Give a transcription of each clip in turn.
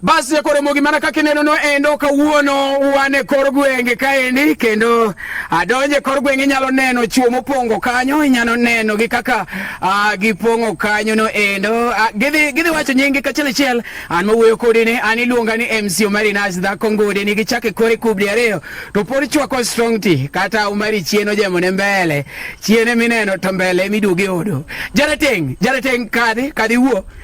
Basi jakoromogi mana kaka ineno no endo kawuono wan e kor gwenge kaendi kendo adonje ah, kor gwenge inyalo neno chuo mopongo kanyo inyalo neno gi kaka uh, gipong'o kanyo no endo uh, gidhi, gidhi wacho nyingi kachiel achiel an mawuoyo kodi ni an iluonga ni MC Omari Nas dhako ngode ni gichake kore kubdi ariyo to pod chwako strong tea kata Omari chieno jemo ne mbele chiene mineno to mbele miduogi odo jarateng jarateng kadhi kadhi wuo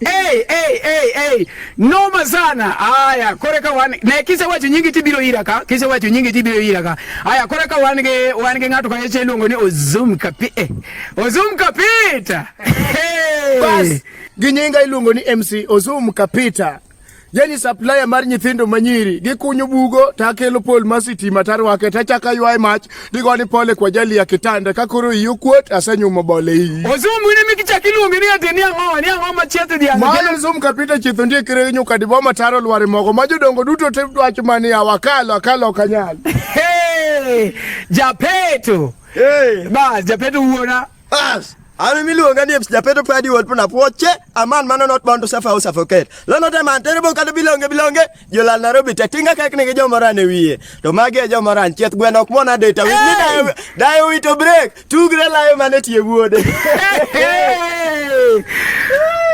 Hey, hey, hey, hey. Noma sana. Haya, koreka wan na kise wacho nyingi tibiro ira ka. Kise wacho nyingi tibiro ira ka. Haya, koreka wan ge wan ge ngato kanye cheluongo ni Ozum Kapi. Eh. Ozum Kapita. Hey. Bas, ginyinga iluongo ni MC Ozum Kapita. yani supplier mar nyithindo manyiri gikunyo bugo to akelo pol ma sitima tarwake to achako aywaye mach digo ni pole kwa jali ya kitanda ka koro iyi okuot asenyumo bole iyi ozungu ni mikichak iluonge ni ati ni ang'owa ni ang'o ma chietho dhiang' mayo zum kapita chietho ndie kire nyuka dibo mataro lware mogo ma jodongo duto te dwacho mani awakalo akalo kanyal hey, japeto hey. bas japeto wuona As. Ami miluonga ni Eps Japeto Padi Wod Puna Pwoche, a man man not born to suffer or suffocate. Lo not a man terrible kata bilonge bilonge, jolal Nairobi te tinga kek nigi jomora ne wiye. To magi e jomora chieth gwen ok mona data. Wi ni dayo dayo wito break, tugre layo mane tie wuode.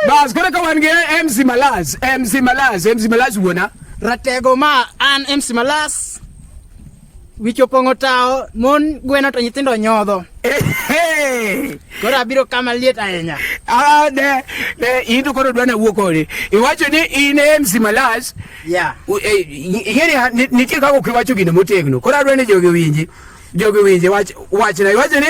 Bas kore ka wan gi MC Malaz, MC Malaz, MC Malaz wuona. Ratego ma an MC Malaz. Wich opong'o tawo, mon gweno to nyithindo nyodho. Koro abiro kama liet ahinya. Ah, ne, ne, in to koro dwana wuo kode. Iwacho ni in e MC Malas. Yeah. Eh, Ing'eni nitie kaka ok iwacho gino motegno. Koro adwa ni jogi winji. Jogi winji wach wachna. Iwacho ni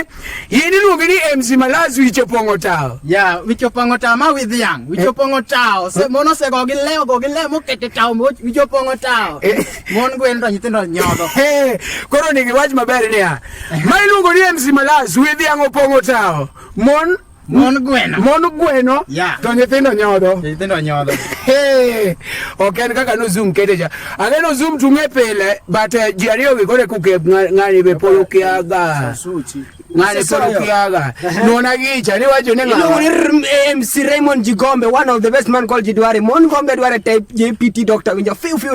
In iluonge ni MC Malazi wicho pong'o tao. Yeah, wicho pong'o tao ma with young. Wicho eh. pong'o tao. Se eh. mono se go gi leo go gi leo mo kete tao mo wicho pong'o tao. Eh. Mon gwen to nyithindo nyodo. Eh, koro ni wach maber niya. Ma iluongo ni MC Malazi with young opong'o tao. Mon Mon gweno. Mon gweno. Yeah. To nyithindo nyodho. Nyithindo nyodho. Hey, ok en kaka no zoom kete cha. Aneno zoom tunge pile but uh, ji ariyo gi kore kuke ng'ani be polo kiaga. Suchi. Ng'ani polo kiaga. Nona gicha ni wacho ni ng'ani. Iluongo ni MC Raymond Jigombe, one of the best man called Jidware. Mon Gombe Dware type JPT doctor winjo. Fiu fiu